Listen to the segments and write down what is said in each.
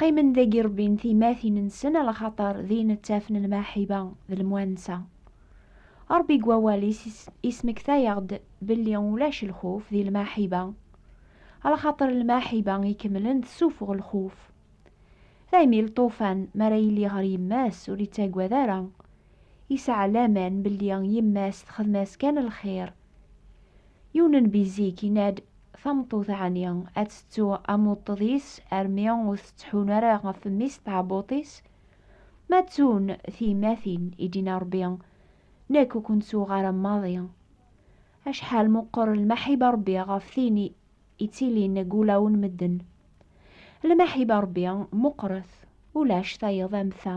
Qqimen dagi rebbin timatin-nsen alaxaṭer din ttafen lmaḥiba d lemwansa. Ṛebbi deg wawal-is ismekta-yaɣ-d belli ulac lxuf di lmaḥiba, alaxaṭer lmaḥiba ikemlen tessufeɣ lxuf. Daymi lṭufan mi ara yili ɣer yemma-s ur ittagad ara, yesɛa laman belli yemma-s texdem-as kan lxir. Yiwen n bizik yenna-d, Tameṭṭut ɛni ad tettu amuṭṭeḍ-is armi ur tettḥun ara ɣef mmi-s d tɛebbuḍt-is? Ma ttun tyemmatin, i d-yenna Rebbi, Nekk ur ken-ttuɣ ara maḍi. Acḥal meqqer lmaḥiba n Rebbi ɣef tin i yettilin deg wulawen n medden! Lmaḥiba n Rebbi meqqret, ulac tayeḍ am ta.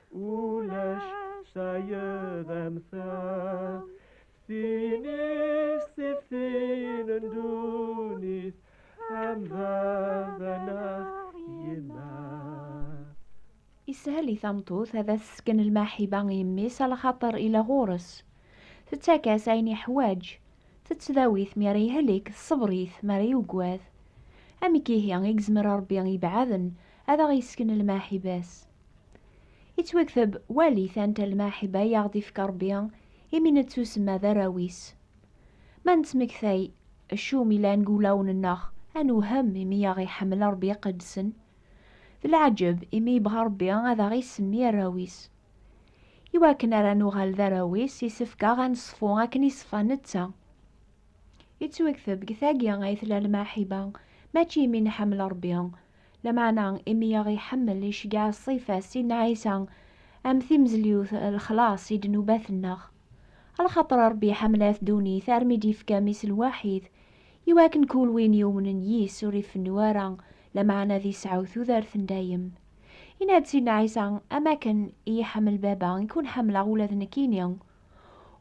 Ulac tayeḍ am ta Tin istiftin n ddunit Am baba neɣ yemma Ishel i tameṭṭut ad as-tesken lmaḥiba i yemmi-s a lxaṭer ila ɣur-s. Tettak-as ayen yeḥwaǧ. Tettdawi-t mi ara yehlek, tṣebber-it mi ara yuggad. Amek ihi i yezmer Ṛebbi ibeɛɛden ad aɣ-yessken lmaḥiba-s? Ittwakteb wali tanta lmaḥiba i aɣ-d-ifka Rebbi imi nettusemma d arraw-is. Ma nettmektay acu umi llan deg wulawen-nneɣ, ad newhem imi i aɣ-iḥemmel Rebbi iqeddsen. D leɛǧeb imi yebɣa Rebbi ad aɣ-isemmi arraw-is. I wakken ara nuɣal d arraw-is, yessefk-aɣ ad neṣfu akken i ṣfa netta. Ittwakteb deg tagi ay tella lmaḥiba, mačči imi nḥemmel Rebbi, Lameɛna, imi i aɣ-iḥemmel, iceggeɛ ṣṣifa-s, inna Ɛisa, Am timezlyut, lexlaṣ i ddnubat-nneɣ. Alxaṭer Ṛebbi iḥemmel-at ddunit armi d-yefka Mmi-s lwaḥid, i wakken kul win yumnen yis-s ur ifennu ara, lameɛna ad isɛu tudert n dayem. Inna-d Sidna Ɛisa, Am akken i yi-iḥemmel Baba, i ken-ḥemmleɣ ula d nekkini.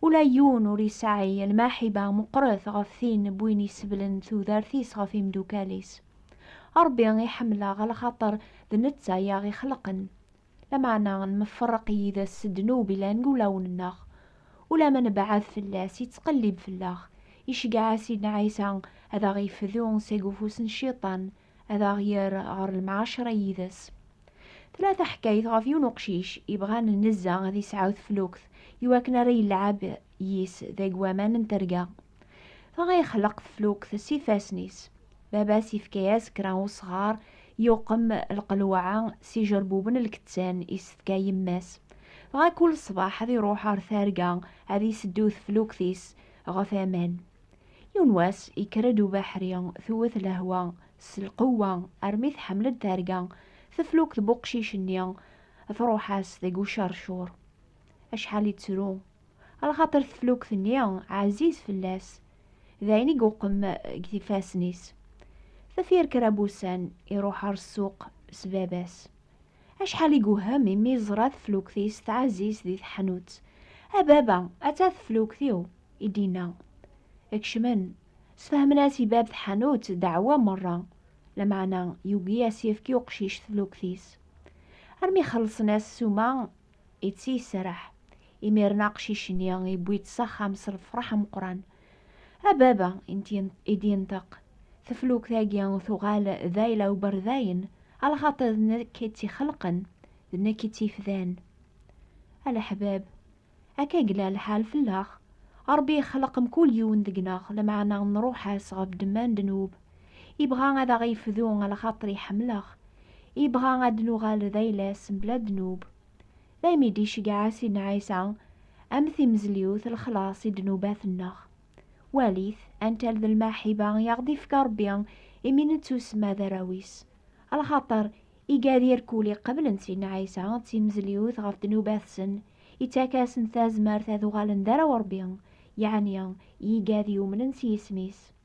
Ula yiwen ur isɛi lmaḥiba meqqret ɣef tin n win iseblen tudert-is ɣef imeddukkal-is. Ṛebbi i ḥemmleɣ lxaṭer d netta i aɣ-ixelqen. Lameɛna nmefṛeq yid-s s ddnub ilan g ulawen-nneɣ. Ulamma nebɛed fell-as, ittqellib fell-aɣ, iceggeɛ-as Sidna Ɛisa ad aɣ-ifdu seg ufus n Cciṭan, ad aɣ-yerr ɣer lemɛaceṛa yid-s. Tella taḥkayt ɣef yiwen uqcic ibɣan nnezza ad isɛu teflukt iwakken ara yelɛeb yis deg waman n terga. Dɣa yexleq teflukt s ifassen-is. Baba-s yefka-as kra n usɣar, yuqem lqelwaɛa s ijerbuben n lkettan i s-tefka yemma-s. Dɣa kul ṣṣbeḥ ad iruḥ ɣer terga ad iseddu teflukt-is ɣef aman. Yiwen wass yekker-d ubeḥri, tewwet lehwa s lqewwa armi tḥemmel-d terga teflukt n uqcic-nni, truḥ-as deg ucercur. Acḥal yettru lxaṭer teflukt-nni ɛziz fell-as, d ayen i iweqqem deg ifassen-is. Tefyar kra n wussan, iruḥ ɣer ssuq s baba-s. Acḥal i iwhem imi yeẓra teflukt-is tɛziz di teḥnut. A baba, atta teflukt-iw! i d-yenna. Kecmen, sfehmen-as i bab tḥanut ddeɛwa merra, lameɛna yugi a s-yefk i uqcic teflukt-is. Armi xellṣen-as ssuma Itti iserreḥ. Imiren aqcic-nni iwwi-tt s axxam s lfeṛḥ ameqqran. A baba, i d-yenṭeq, teflukt-agi tuɣal d ayla uberdayen, a lxaṭer d nekk i tt-ixelqen, d nekk i tt-ifdan. A leḥbab, akka yella lḥal fell-aɣ, Ṛebbi ixleq mkul yiwen deg-neɣ, lameɛna nṛuḥ-as ɣef ddemma n ddnub. Ibɣa ad aɣ-yefdu lxaṭer iḥemmleɣ. Ibɣa ad d-nuɣal d ayla-s mebla ddnub. Daymi d-iceggeɛ-a Sidna Ɛisa am timezliwt lexlaṣ i ddnubat-nneɣ. Walit antal d lmaḥiba i aɣ-d-ifka Ṛebbi imi nettusemma d arraw-is. Lxaṭer iga d irkul iqeblen Sidna Ɛisa d timezliwt ɣef ddnubat-sen, ittak-asen tazmert ad uɣalen d arraw Ṛebbi, yeɛni iga d yumnen s yisem-is.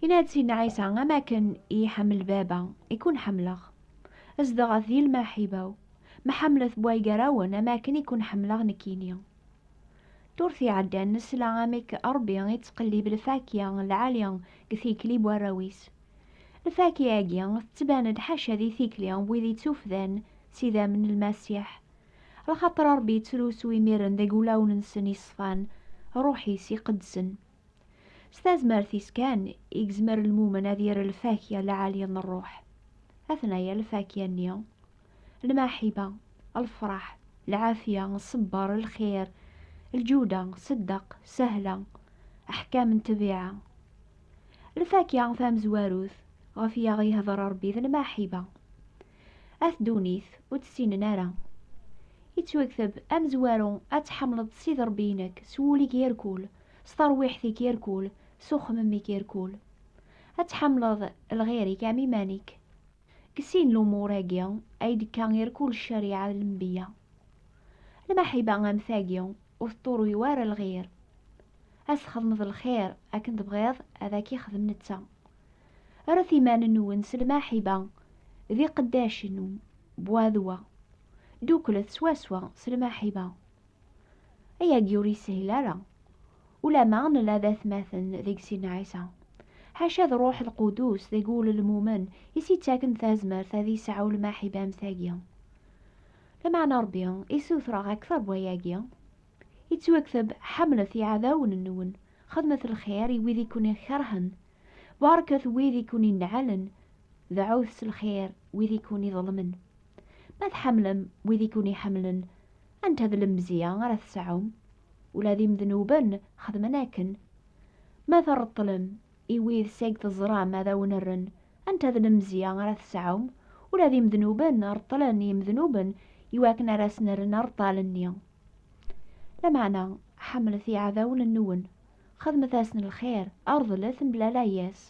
Yenna-d Sidna Ɛisa, am akken i yi-ḥemmel Baba, i ken-ḥemmleɣ. Zdeɣ ɣef di lmaḥiba-w. Mḥemmlet bway gar-awen am akken i ken-ḥemmleɣ nekkini. Ddurt iɛeddan nesla amek Ṛebbi ittqellib lfakya n lɛali deg tikli n warraw-is. Lfakya-agi tettban-d ḥaca di tikli n wid ittufdan s idammen n Lmasiḥ. Lxaṭer Ṛebbi yettlusu imiren deg wulawen-nsen iṣfan, Ṛṛuḥ-is iqedsen. S tazmert-is kan i yezmer lmumen ad yerr lfakya lɛali n ṛṛuḥ. Atnaya lfakya-nni, lmaḥiba, lfeṛḥ, lɛafya, ṣṣebbeṛ, lxir, lǧuda, ṣeddeq, sahla, aḥkam n ṭṭbiɛa. Lfakya tamezwarut ɣef i aɣ-yehdeṛ Ṛebbi d lmaḥiba. At ddunit ur tt-ssinen ara. Yettwakteb amezwaru ad tḥemmleḍ Sidi Ṛebbi-inek s wul-ik yerkul, S tarwiḥt-ik irkul, s uxemmem-ik irkul. Ad tḥemmleḍ lɣir-ik am iman-ik. Deg sin lumuṛ-agi ay d-tekka irkul ccariɛa n lenbeyya. Lmaḥiba am tagi ur teṭṭuruy wara lɣir. Ad s-txedmeḍ lxir akken tebɣiḍ ad ak-ixdem netta. Rret iman-nwen s lmaḥiba d iqeddacen n Bwadwa. Dduklet swaswa s lmaḥiba. Ayagi ur yeshil ara. Ulama nella d atmaten deg sin n Ɛisa. Ḥaca d Ṛuḥ Lqudus deg ulelmumen i s-yettaken tazmert ad yesɛu lmaḥiba am tagi. Lameɛna Ṛebbi i sutreɣ akteṛ n wayagi, yettwakteb, Ḥemlet iɛdawen-nwen, xedmet lxir i wid i ken-ikeṛhen, baṛket wid i ken-inɛalen, deɛɛut s lxir wid i ken-iḍelmen. Ma tḥemmlem wid i ken-iḥemmlen, Anta d lemzya ara tesɛum? Ula d imednuben xedmen akken. Ma treṭṭlem i wid seg teẓram ad awen-rren, anta d lemzya ara tesɛum? Ula d imednuben reṭṭlen i yimednuben i wakken ara asen-rren areṭṭal-nni. Lameɛna, ḥemmlet iɛdawen-nwen, xedmet-asen lxir, rḍlet mebla layas.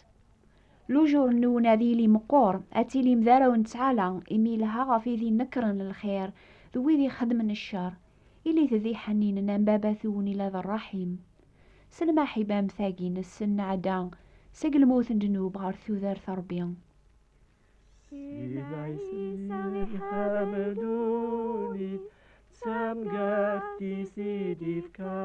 Lujur n unadil imeqqur, ad tilim d arraw n ttɛala, imi yelha ɣef wid inekkren lxir d wid ixeddmen ccer. Ilit d iḥenninen am Baba-twen ila d rraḥim. S lmaḥiba am tagi, nessen nɛedda seg lmut n ddnub ɣer tudert n Rebbi. Sidna Ɛisa iḥab ddunit, d tamgart-is i d-ifka.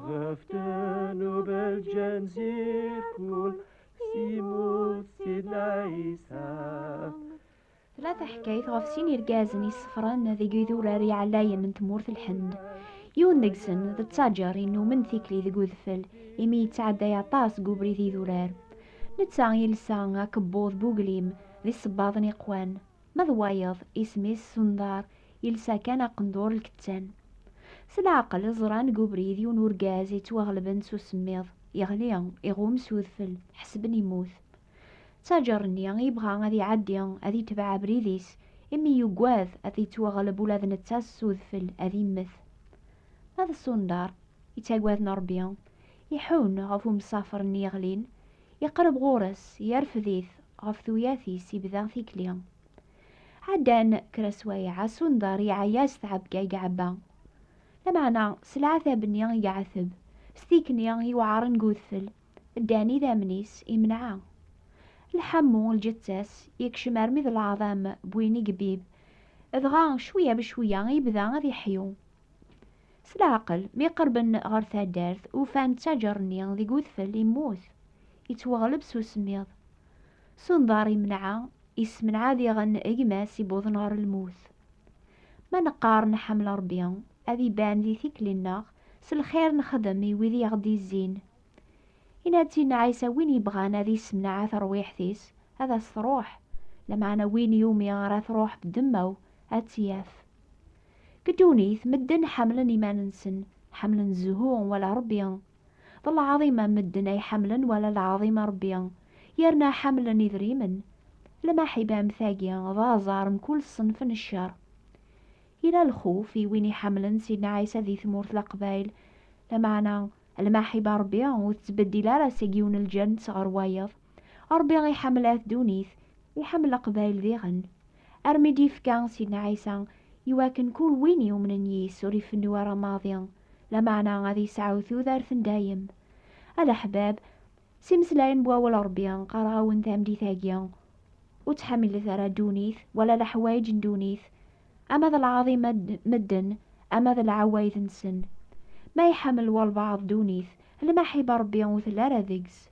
Ɣef ddnub lǧen zirkul Simut sidna Isa Tella teḥkayt ɣef sin irgazen yessefren deg idurar iɛlayen n tmurt Lhend. Yiwen deg-sen d ttaǧer innumen tikli deg udfel imi yettɛedday aṭas deg ubrid idurar. Netta yelsa akebbuḍ n uglim d isebbaḍen iqwan, ma d wayeḍ isem-is Sundar, yelsa kan aqendur lkettan. S leɛqel, ẓran deg ubrid yiwen urgaz yettwaɣelben s usemmiḍ, yeɣli, iɣum s udfel, ḥesben yemmut. Ttaǧer-nni yebɣa ad iɛeddi, ad itbeɛ abrid-is, imi yugad ad yettwaɣleb ula d netta s udfel, ad immet. Ma d Sundar, yettaggaden Rebbi, iḥunn ɣef umsafer-nni yeɣlin, iqreb ɣur-s, yerfed-it, ɣef tuyat-is ibda tikli. Ɛeddan kra swayeɛ, Sundar iɛeyya s tɛebga i iɛebba. Lameɛna, s leɛtab-nni i iɛeteb, s tikni iwɛaren deg udfel, ddan idammen-is, imneɛ. Lḥamu, lǧetta-s, yekcem armi d leɛḍam n win i ibib, dɣa cwiya becwiya ibda ad iḥyu. S leɛqel, mi qerben ɣer taddart, ufan ttaǧer-nni deg udfel immut, ittwaɣleb s usemmiḍ. S unḍar imenɛa, issemneɛ diɣen gma-s iwwḍen ɣer lmut. Ma neqqar nḥemmel Rebbi, ad iban di tikli-nneɣ s lxir nexdem i wid i aɣ-d-izzin. Inna-ţ-in Ɛisa win yebɣan ad issemneɛ terwiḥt-is, ad as-truḥ, lameɛna win yumi ara truḥ ddemma-w, aţ-ţ-yaf. Deg ddunit, medden ḥemmlen iman-nsen, ḥemmlen zzhu wala Ṛebbi. D lɛaḍima n medden ay ḥemmlen wala lɛaḍima n Ṛebbi, yerna ḥemmlen idrimen. Lmaḥiba am tagi d aẓar mkul ṣṣenf n cceṛ. Yella lxuf i win iḥemmlen Sidna Ɛisa di tmurt Leqbayel, lameɛna lmaḥiba n Ṛebbi ur tettbeddil ara seg yiwen lǧennt ɣer wayeḍ. Ṛebbi iḥemmel At Ddunit, iḥemmel Leqbayel diɣen, armi d-yefka Sidna Ɛisa iwakken kul win yumnen yis-s ur ifennu ara maḍi, lameɛna ad yesɛu tudert n dayem. A leḥbab, s imeslayen n Wawal n Ṛebbi, qqareɣ-awen tameddit-agi, Ur ttḥamilet ara ddunit, wala leḥwayeǧ n ddunit, ama d lɛaḍima n medden, ama d lɛawayed-nsen. Ma iḥemmel walbaɛḍ ddunit, lmaḥiba n Ṛebbi ur telli ara deg-s.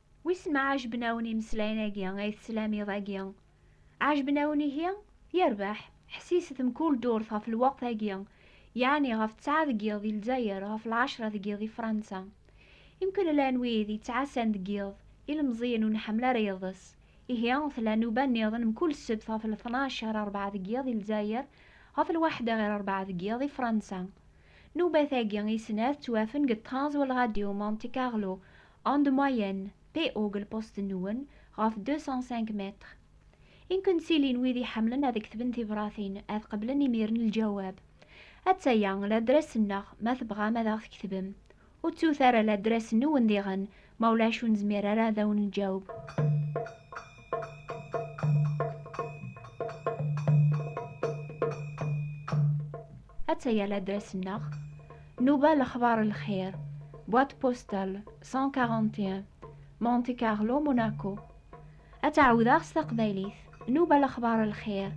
Wissen ma ɛejben-awen imeslayen-agi ay teslam iḍ-agi? Ɛejben-awen ihi? Yerbeḥ! Ḥessiset mkul ddurt ɣef lweqt-agi, yeɛni ɣef ttɛa deg yiḍ di Lezzayer, ɣef lɛecṛa deg yiḍ di Fṛansa. Imkul llan wid yettɛassan deg yiḍ, ilemẓiyen ur nḥemmel ara iḍes. Ihi, tella nnuba nniḍen mkul ssebt ɣef lṭnac ɣer ṛebɛa deg yiḍ di Lezzayer, ɣef lwaḥda ɣer ṛebɛa deg yiḍ di Fṛansa. Nnuba-tagi i snat ttwafen deg ṭṭrans wal Ṛadyu Monte Carlo, En de moyenne, PO-g lpost-nwen ɣef 205 mètres. I nken-ttilin wid iḥemmlen ad ktben tibratin, ad qeblen imiren lǧawab. Atta-ya ladres-nneɣ ma tebɣam ad aɣ-tketvem. Ur ttut ara ladres-nwen diɣen, ma ulac ur nezmir ara ad awen-nǧaweb. Attaya l'adresse-nneɣ, Nuba Lexbar Lxir, boîte postale 141, Monte Carlo, Monaco. Ad tt-ɛawdeɣ s taqbaylit, Nuba Lexbar Lxir,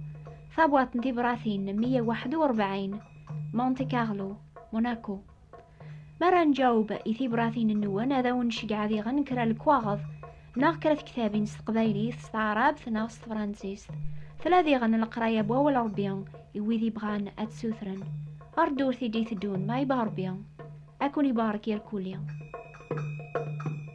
tabwaṭ n tibratin 141, Monte Carlo, Monaco. Mi ara nǧaweb i tibratin-nwen, ad awen-nceggeɛ diɣen kra lekwaɣeḍ neɣ kra tektabin s teqbaylit, s taɛrabt neɣ s tefransist. Tella diɣen leqraya n Wawal Ṛebbi i wid yebɣan ad t-sutren ɣer ddurt i d-iteddun, ma yebɣa Ṛebbi ad ken-ibarek irkelli.